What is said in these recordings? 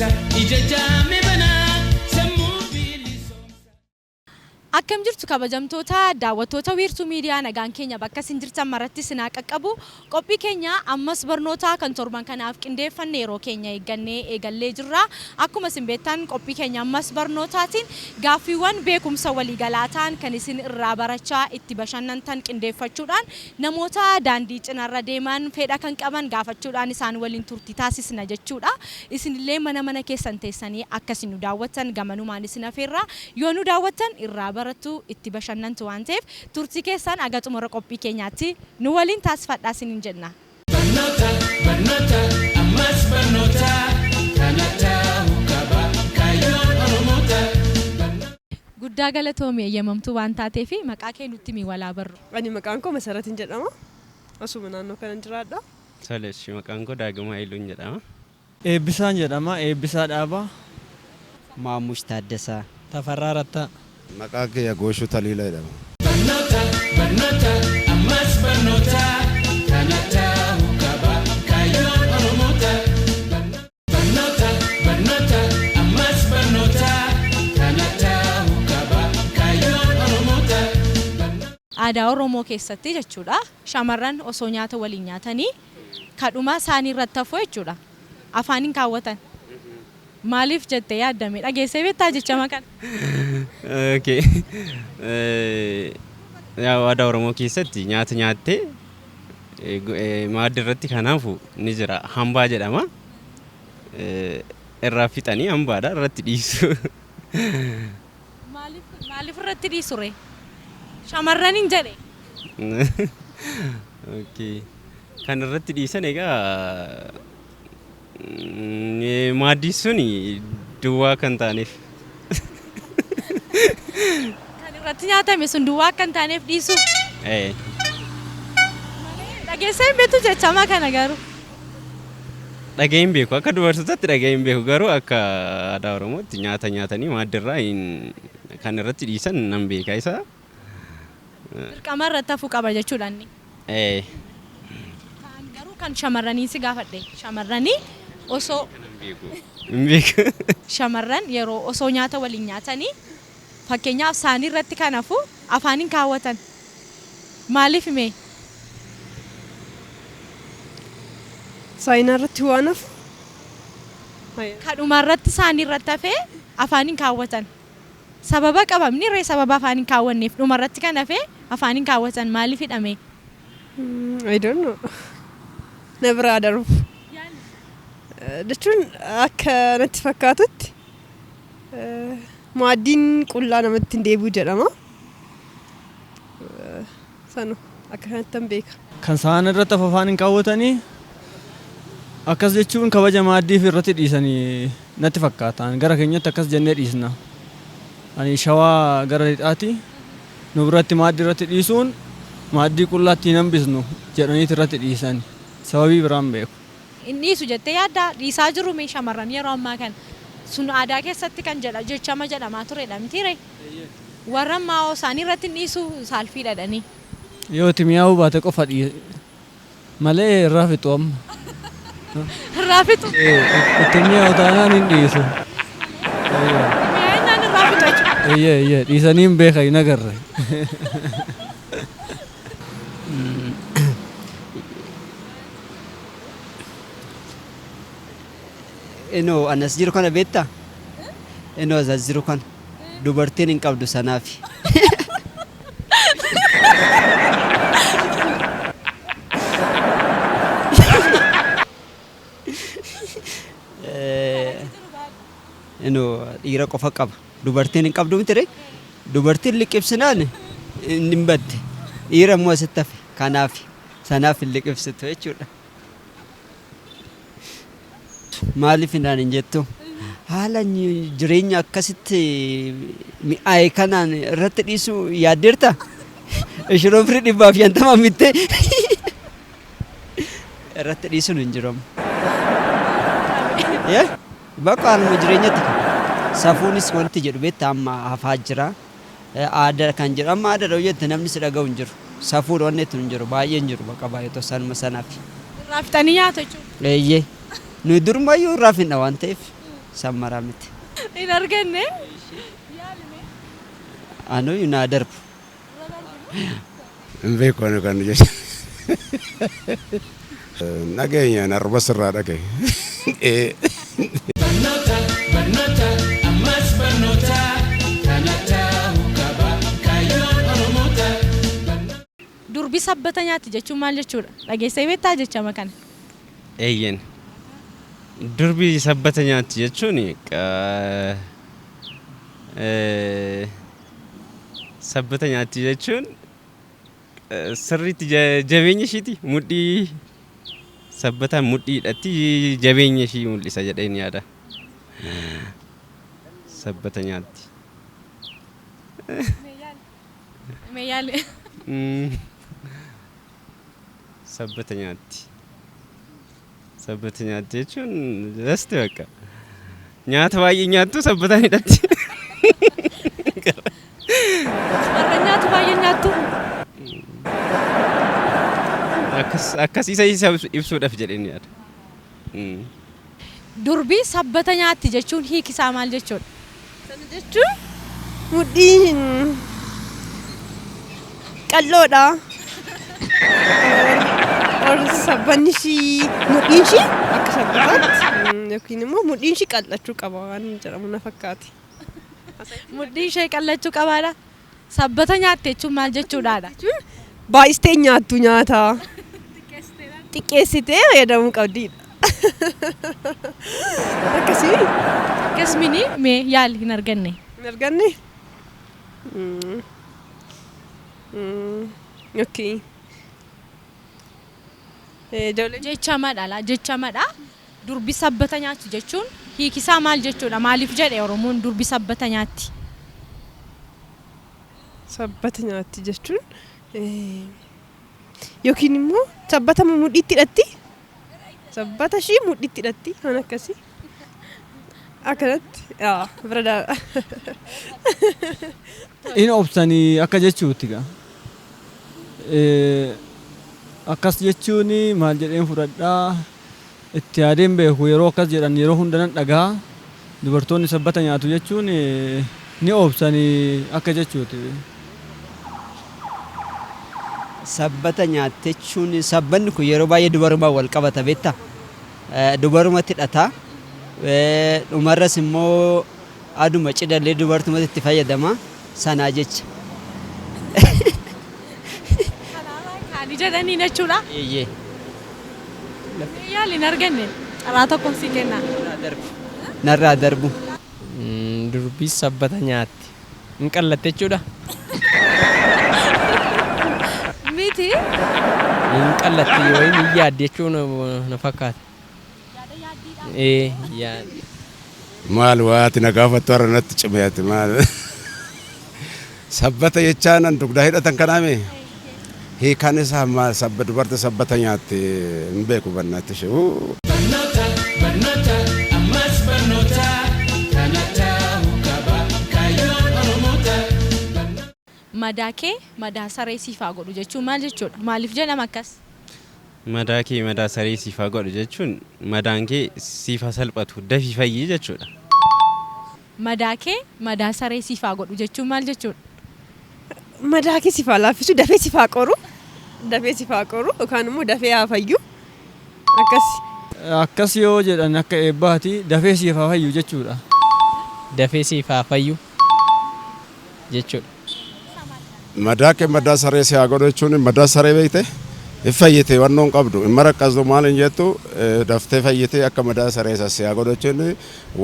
Ija jaame banaa sammuu bilisoomsaa. Akkam jirtu kabajamtoota daawwattoota Wiirtuu Miidiyaa nagaan keenya bakka isin jirtan maratti isin haa qaqqabu. Qophii keenya ammas barnootaa kan torban kanaaf qindeeffanne yeroo keenya eeggannee eegallee jirra. Akkuma isin beektan qophii keenya ammas barnootaatiin gaaffiiwwan beekumsa waliigalaa ta'an kan isin irraa barachaa itti bashannantan qindeeffachuudhaan namoota daandii cinarra deeman fedha kan qaban gaafachuudhaan isaan waliin turtii taasisna jechuudha. Isin illee mana mana keessan teessanii akka isin nu daawwattan gamanumaan isin afeerra. Yoo nu daawwattan irraa barattu, itti bashannantu waan ta'eef turtii keessan haga xumura qophii keenyaatti nu waliin taasifadhaa isiniin jenna. Barnoota barnoota ammas barnoota kana ta'uu qaba kaayyoon Oromoota barnoota. Guddaa galatoomi eeyyamamtuu waan taateef. Maqaa kee nutti himi wal haa barru. Ani maqaan koo Masaratin jedhama. Asuma naannoo kanan jiraadha. Tole eshi maqaan koo Daagim Hayiluun jedhama. Eebbisaan jedhama. Eebbisaa Dhaabaa. Maammush Taaddasaa. Tafarraa Rattaa. Maqaan kiyya Gooshuu Taliilaa jedhama. Barnoota barnoota ammas barnoota kana ta'uu qaba kaayyoon oromoota barnoota. Barnoota, barnoota, ammas barnoota, kana ta'uu qaba kaayyoon Oromoota. Aadaa Oromoo keessatti jechuudha shamarran osoo nyaata waliin nyaatanii kadhuma saanii irratti hafu jechuudha afaan hin kaawwatan. Maaliif jettee yaadda mee? Dhageessee beektaa jechama kana? Okay. Yaa aadaa Oromoo keessatti nyaata nyaattee maaddi irratti kanaafu ni jira hambaa jedhama irraa fixanii hambaadha irratti dhiisu. Maaliif irratti dhiisu ree? Shamarran hin jedhe. Kan irratti dhiisan egaa Maaddiin suni duwwaa akka hin taaneef. Kan irratti nyaatame sun duwwaa akka hin taaneef dhiisuu. Ee. Dhageessee hin beektu jechama kana garuu. Dhaga'ee hin beeku. Akka dubartootaatti dhaga'ee hin beeku. Garuu akka aadaa Oromootti nyaata nyaatanii maaddirraa hin kan irratti dhiisan nan beeka isa. Dirqama irratti hafuu qaba jechuudha inni. Ee. Kaan garuu kan shamarraniin si gaafadhe. Shamarranii osoo. Kana hin beeku. Hin beeku. Shamarran yeroo osoo nyaata waliin nyaatanii fakkeenyaaf saanii irratti kan hafu afaan hin kaawwatan. Maaliif mee? Saayinaa irratti waan hafu. Kadhuma irratti saanii irratti hafee afaan hin kaawwatan. Sababa qabamni ree sababa afaan hin kaawwanneef dhuma irratti kan hafe afaan hin kaawwatan maaliifidha mee? I don't know. Na biraa darbu. Jechuun akka natti fakkaatutti maaddiin qullaa namatti hin deebi'u jedhama. sanu akka kanattan beeka. Kan sahan irratti afafaan hin kaawwatani. Akkas jechuun kabaja maaddiif irratti dhiisani natti fakkaata. Ani gara keenyatti akkas jennee dhiisna. Ani Shawaa gara lixaati. Nu biratti maaddi irratti dhiisuun maaddii qullaatti hin hambisnu jedhaniiti irratti dhiisani. Sababii biraa hin beeku. Hin dhiisu jettee yaaddaa? Dhiisaa jiruu mee shamarran yeroo ammaa kana? Sun aadaa keessatti kan jedha jechama jedhamaa turedha mitiiree? Warran maa'oo isaanii irratti hin dhiisu, saalfii dhadhanii. Yoo itti mi'aawuu baate qofa dhiise malee irraa fixu amma. Irraa fixu. Itti mi'aawu taanaan hin dhiisu. Mi'aayinnaan irraa fixu jechuudha. Eeyyee eeyyee dhiisanii hin beekan hin agarre. Inoo anas jiru kana beektaa? Inoo as jiru kana. dubartiin hin qabdu sanaafi. Inu dhiira qofa qaba. Dubartiin hin qabdu miti ree? Dubartiin liqibsinaan hin badde. Dhiira immoo asitti hafe. Kanaaf sanaaf hin liqibsitu jechuudha. Maaliif naan hin jettu? Haala jireenya akkasitti mi'aaye kanaan irratti dhiisuu yaaddeerta? Ishiroo firii dhibbaaf shantama mittee irratti dhiisuun hin jiramu. Bakka haaluma jireenyatti safuunis wanti jedhu beektaa amma hafaa jira. Aada kan jedhu amma aadadha yoo jette namni si dhagahu hin jiru. Safuudha wanni jettu hin jiru. Baay'ee hin jiru bakka baay'ee otoo sanuma sanafi. Irraa fixanii nyaatu jechuudha. Eeyyee. Nuyi durumayyuu irraa fixna waan ta'eef san maraa miti. Hin arganne. Yaali mee. Anuu naa darbu. Irra darbu. Hin beeku ani kan jecha. Hin dhageenye ani arba sirraa dhaga'e. Durbi sabbata nyaatti jechuun maal jechuudha? Dhageessee beektaa jechama kana? Eeyyen. Durbi sabbata nyaatti jechuun qa- eh, sabbata nyaatti jechuun sirriitti jabeenya ishiiti mudhii sabbataan mudhii hidhatti jabeenya ishii mul'isa jedheen yaada. Sabbata nyaatti. Mee yaali. Sabbata nyaatti. Sabbata nyaatti jechuun lasti bakka. Nyaata baay'ee nyaattu sabbataan hidhatti. Warra nyaatu baay'ee nyaattu. Akkas akkasiisa isa ibsuudhaaf jedheen yaada. Mm. Durbi sabbata nyaatti jechuun hiiki isaa maal jechuudha? Kana jechuun mudhii hin qal'oodha. Warri sabbanni ishii mudhiin ishii akka sabbataatti yookiin immoo mudhiin ishii qal'achuu qaba waan jedhamu na fakkaate. Mudhiin ishee qal'achuu qabaadha. Sabbata nyaatte jechuun maal jechuudhaadha? Baay'istee nyaattu nyaata. Xiqqeessitee fayyadamuu qabdiidha. Akkasii. Akkas mini mee yaali hin arganne. Hin arganne? Mm. Mm. Okay. Eh, Ijoolleen Jecha madha laa jecha madha. Durbi sabbata nyaatti jechuun hiikisaa maal jechuudha? Maaliif jedhe Oromoon durbi sabbata nyaatti? Sabbata nyaatti jechuun yookiin immoo sabbata moo mudhiitti hidhatti? Sabbata ishii mudhiitti hidhatti waan akkasii. Akkanatti yaa bira daaba. In obsanii akka jechuutti gaa. Eh, Akkas jechuun maal jedheen fudhadhaa? Itti yaadee hin beeku yeroo akkas jedhan yeroo hunda nan dhagaha. Dubartoonni sabbata nyaatu jechuun ni obsani akka jechuuti. Sabbata nyaatti jechuun sabbanni kun yeroo baay'ee dubarumaan wal qabata beektaa? Dubarumatti hidhata. Dhumarras immoo Aduma cidhallee dubartumatu itti fayyadama sanaa jecha. Kanaafaa kaanii jedhanii jechuudha. Eeyyee. Mee yaali hin arganne carraa tokkoon sii kenna. Narraa darbu. Narraa darbu. Durbi sabbata nyaatti. Hin qallatte jechuudha? Miti. Hin qallatti yookiin hin yaaddi jechuun na fakkaata. Ee yaad. Maal waati na gaafattu har'a natti cime ati maal. Sabbata jechaan an dugdaa hidhatan kanaa mee? Hiikaan isaa maal sabba dubarti sabbata nyaatte hin beeku bannaatti ishee. Uu. Barnoota, barnoota, ammas barnoota, kana ta'uu qaba kaayyoon Oromoota. Barnoota. Madaa kee madaa saree siif haa godhu jechuun maal jechuudha? Maaliif jedhama akkas? Madaa kee madaa saree siif haa godhu jechuun madaan kee siif haa salphatu, dafii fayyi jechuudha. Madaa kee madaa saree siif haa godhu jechuun maal jechuudha? Madaa kee siif haa laaffisu, dafee siif haa qoru, dafee siif haa qoru yookaan immoo dafee haa fayyu akkasi. Akkas yoo jedhan akka eebbaati. Dafee siif haa fayyu jechuudha. Dafee siif haa fayyu. jechuudha. Madaa kee madaa saree si haa godhu jechuun madaa saree beekte hin fayyite wannoo hin qabdu hin maraqqasdu maal hin jettu daftee fayyite akka madaa saree isa si haa godhu jechuun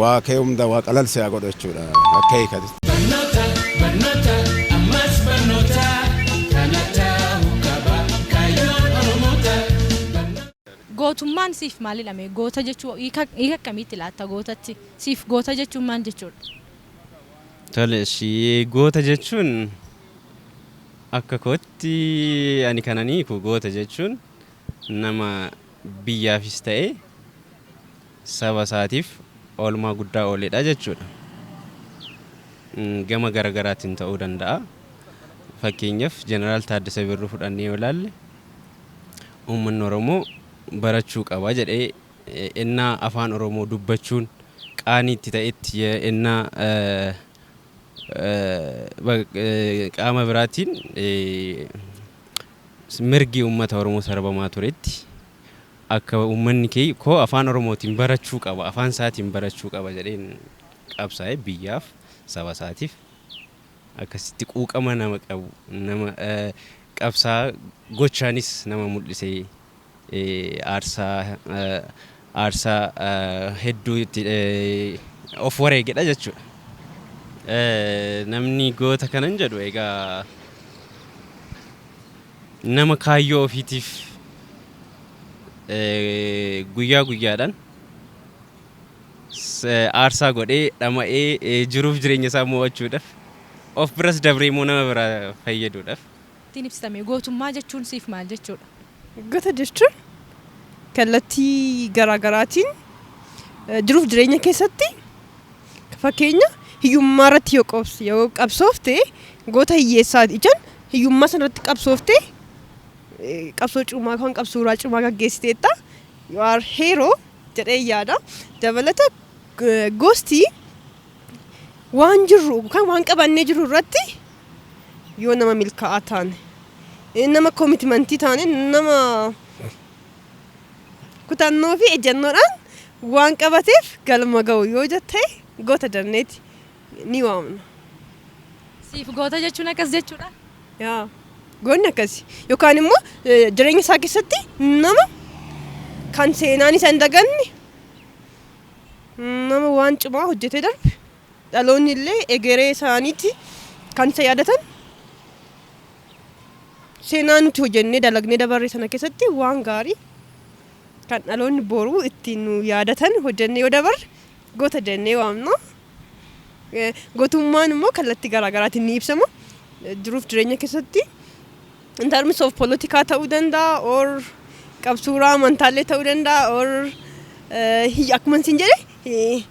waa kee hunda waa qalal si haa godhu jechuudha akka hiikati. Barnoota barnoota ammas barnoota kana ta'uu qaba kaayyoon oromoota. Gootummaan siif maalidha mee? Goota jechuu hiika akkamiitti laatta gootatti? Siif goota jechuun maal jechuudha? Tole eshi goota jechuun akka kootti ani kanan hiiku goota jechuun nama biyyaafis ta'ee saba isaatiif oolmaa guddaa ooledha jechuudha. Gama garagaraatiin ta'uu danda'a. Fakkeenyaaf Jeneraal Taaddasa Birruu fudhannee yoo ilaalle uummanni Oromoo barachuu qaba jedhee ennaa Afaan Oromoo dubbachuun qaanii itti ta'etti, ennaa qaama biraatiin mirgi uummata Oromoo sarbamaa turetti, akka uummanni koo Afaan Oromootiin barachuu qaba, Afaan isaatiin barachuu qaba jedheen qabsaa'e. Biyyaaf, saba isaatiif akkasitti quuqama nama qabu, nama qabsaa'aa gochaanis nama mul'ise aarsaa aarsaa hedduu itti of wareegedha jechuudha. Namni goota kanan jedhu egaa nama kaayyoo ofiitiif guyyaa guyyaadhaan aarsaa godhee dhama'ee jiruuf jireenya isaa mo'achuudhaaf of biras dabree immoo nama biraa fayyaduudhaaf ittiin ibsita mee? Gootummaa jechuun siif maal jechuudha? Gota jechuun kallattii garaa garaatiin jiruuf jireenya keessatti fakkeenya hiyyummaa irratti yoo qabs- yoo qabsoofte goota hiyyeessaati ijaan hiyyummaa sana irratti qabsoofte eh, qabsoo cimaa yookaan qabsooraa cimaa gaggeessiteetta you are hero jedhee yaada dabalata eh, gosti waan jirru yookaan waan qabannee jirru irratti Yoo nama milkaa'aa taane, nama komitmantii taane, nama kutannoo fi ejjannoodhaan waan qabateef galma ga'u yoo jette goota jenneeti ni waamna. Siif goota jechuun akkas jechuudha? Yaa goonni akkasi. Yookaan immoo jireenya isaa keessatti nama kan seenaan isa hin daganne, nama waan cimaa hojjetee darbe Dhaloonni illee egeree isaaniitti kan isa yaadatan seenaa nuti hojennee dalagnee dabarre sana keessatti waan gaarii kan dhaloonni boruu ittiin nu yaadatan hojennee yoo dabarre goota jennee waamna. Gootummaan immoo kallattii garaa garaatiin ni ibsama. Jiruuf jireenya keessatti in terms of polotikaa ta'uu danda'a or qabsuuraa amantaallee ta'uu danda'a or akkuma isin jedhe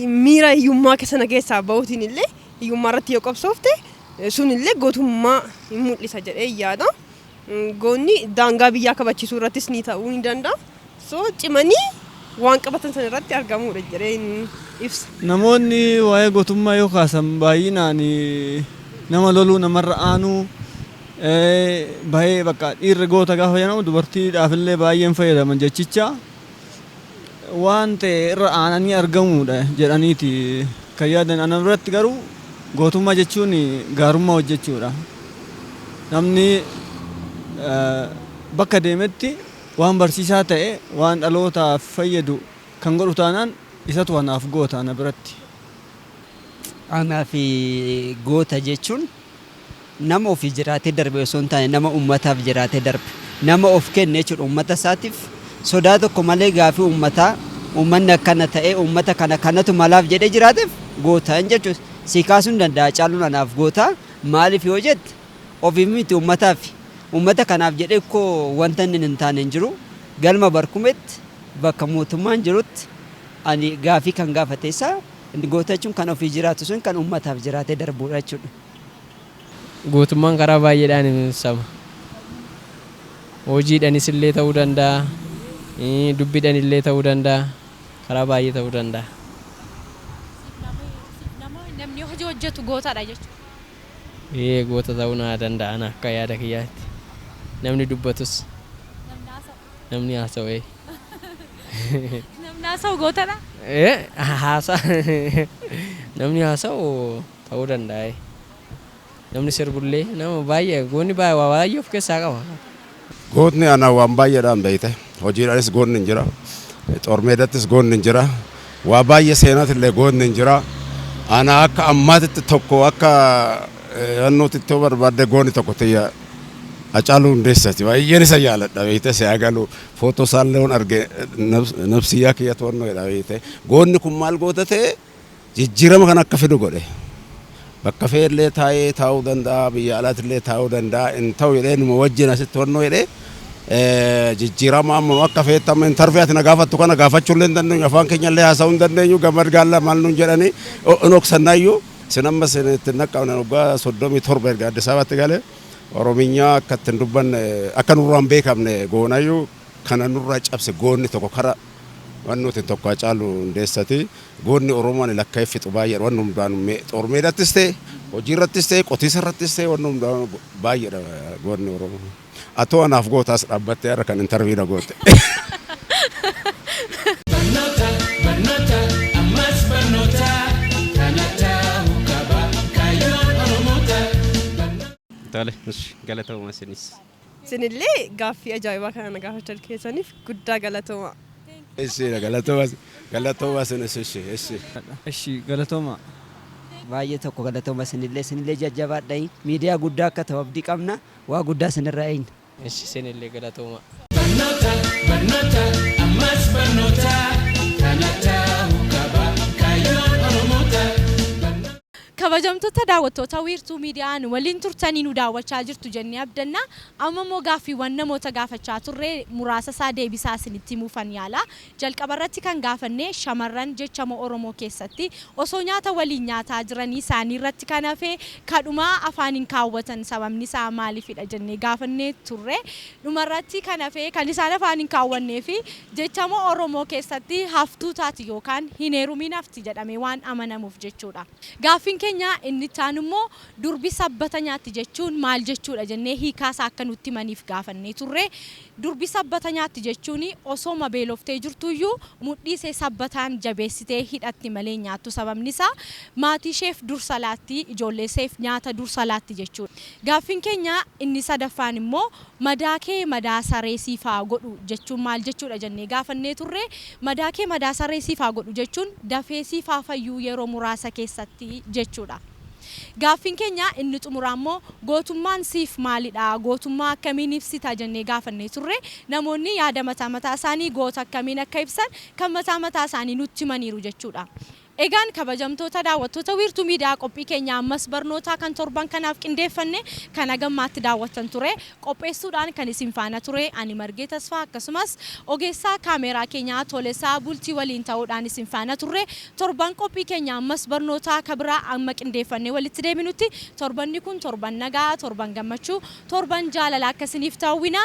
miira hiyyummaa sana keessaa bahuutiin illee hiyyummaa irratti yoo qabsoofte sun illee gootummaa hin mul'isa jedhee yaada. Goonni daangaa biyyaa kabachiisuu irrattis ni ta'uu ni danda'a. So cimanii waan qabatan sana irratti argamuudha jedheen ibsa. Namoonni waa'ee gootummaa yoo kaasan baay'inaan nama loluu namarra aanuu baay'ee bakka dhiirri goota gaafa jedhamu dubartiidhaaf illee baay'een fayyadaman jechicha waan ta'e irra aananii argamuudha jedhaniiti kan yaadan ana biratti garuu gootummaa jechuun gaarummaa hojjechuudha. Namni bakka deemetti Waan barsiisaa ta'e waan dhalootaaf fayyadu kan godhu taanaan isatu anaaf goota ana biratti. Anaaf goota jechuun nama ofii jiraatee darbe osoo hin taane nama uummataaf jiraatee darbe, nama of kenne jechuudha. Uummata isaatiif sodaa tokko malee gaaffii uummataa uummanni akkana ta'ee uummata kana kanatu malaaf jedhee jiraateef goota jechuun sii kaasuu ni danda'a Hacaaluun anaaf goota. Maaliif yoo jette Ofiif miti ummataaffi. Ummata kanaaf jedhee kkoo wanta inni hin taane hin jiru. Galma Barkumeetti bakka mootummaan jirutti ani gaaffii kan gaafate isa. Goota jechuun kan ofii jiraatu sun kan ummataaf jiraatee darbuudha jechuudha. Gootummaan karaa baay'eedhaan ibsama. Hojiidhanis illee ta'uu danda'a, dubbidhan illee ta'uu danda'a, karaa baay'ee ta'uu danda'a. Siif nama namni hojii hojjetu gootadha jechuudha. Ee goota ta'uu naa danda'a ani akka yaada kiyyaatti. Namni dubbatus. Namni haasa'u. Namni haasa'u ee. Namni haasa'u gootadhaa? Ee haasa namni haasa'u ta'uu danda'a ee. Namni sirbullee nama baay'ee goonni waa baay'ee of keessaa qaba. Gootni ana waan baay'eedhaan beekte. Hojiidhaanis gootni hin jira. Xoormeedattis gootni hin jira. Waa baay'ee seenaatillee gootni hin jira. Ana akka ammaatitti tokko akka yannootitti yoo barbaadde gootni tokko tiyya Hacaaluu Hundeessaati. Baay'een isa jaaladha beekte si haa galu. Footoo isaallee yoon arge nabsiyyaa kiyya to'annoo jedha beekte. Gootni kun maal goota ta'e? jijjiirama kana akka fidu godhe. Bakka fee illee taa'ee taa'uu danda'a, biyya alaatti illee taa'uu danda'a, hin ta'u jedhee numa wajjin asitti honnoo jedhee jijjiirama amma akka feetti amma intarvii ati na gaafattu kana gaafachuu illee hin dandeenyu, afaan keenya illee haasa'uu hin dandeenyu, gammad gaallaa maal nuun jedhanii hin oksannaayyuu. Sin amma sin itti hin dhaqqabne waggaa soddomii torba erga Addis Ababaatti galee Orominyaa akka itti hin dubbanne akka nurraa hin beekamne goonayyuu. kana nurraa cabse goonni tokko kara wan nuti tokko Hacaalu Hundeessati goonni Oromoo ani lakka'ee fixu baay'eedha wanni hundaanu xoor meedattis ta'e hojii irrattis ta'e qotiisa irrattis ta'e wanni hundaanu baay'eedha goonni Oromoo atoo anaaf gootaas dhaabbattee har'a kan intarvii na goote. Barnoota, barnoota, ammas barnoota, kana ta'uu qaba kaayyoon Oromoota. Tole, ishi, galatoomaa isinis. Isinillee gaaffii ajaa'ibaa kana na gaafachal keessaniif guddaa galatoomaa. Eshi galatoma galatoma sinis eshi eshi. Eshi galatoma baay'ee tokko galatoma isinillee isinillee jajjabaadha miidiyaa guddaa akka ta'u abdii qabna waa guddaa isinirraa eegna. Eshi isinillee galatoomaa. Barnoota barnoota ammas barnoota kana ta'uu qaba kaayyoon oromoota. Kabajamtotta daawwattoota Wiirtuu Miidiyaa nu waliin turtanii nu daawwachaa jirtu jennee abdanna. Amma immoo gaaffiiwwan namoota gaafachaa turre muraasa isaa deebisaa isinitti himuufan yaala. Jalqaba irratti kan gaafanne shamarran jechama Oromoo keessatti osoo nyaata waliin nyaataa jiranii saanii irratti kan hafe kadhuma afaaniin kaawwatan sababni isaa maaliifidha jennee gaafannee turre. Dhumarratti kan hafe kan isaan afaan hin kaawwanneefi jechama Oromoo keessatti haftuu taati yookaan hin heerumiin hafti jedhamee waan amanamuuf jechuudha. Gaaffiin keenya inni itti aanu immoo durbi sabbata nyaatti jechuun maal jechuudha jennee hiikaa isaa akka nutti himaniif gaafannee turre. Durbi sabbata nyaatti jechuun osooma beeloftee jirtuuyyuu mudhii isee sabbataan jabeessitee hidhatti malee hin nyaattu sababni isaa maatii isheef dursa laatti, ijoollee isheef nyaata dursa laatti jechuudha. Gaaffiin keenya inni sadaffaan immoo madaakee madaa saree siif haa godhu jechuun maal jechuudha jennee gaafannee turre. Madaakee madaa saree siif haa godhu jechuun dafee siif haa fayyuu yeroo muraasa keessatti jechuudha. Gaaffiin keenya inni xumuraa immoo gootummaan siif maalidha? Gootummaa akkamiin ibsita? jennee gaafannee turre. Namoonni yaada mataa mataa isaanii goota akkamiin akka ibsan kan mataa mataa isaanii nutti himaniiru jechuudha. Egaan kabajamtoota daawwattoota Wiirtuu Miidiyaa qophii keenya ammas barnootaa kan torban kanaaf qindeeffanne kan haga ammaatti daawwattan ture. Qopheessuudhaan kan isin faana ture ani Margee Tasfaa akkasumas ogeessaa kaameeraa keenya Tolesaa Bultii waliin ta'uudhaan isin faana turre. Torban qophii keenya ammas barnootaa ka biraa amma qindeeffannee walitti deebinutti torbanni kun torban nagaa, torban gammachuu, torban jaalalaa akka isiniif ta'u hawwina.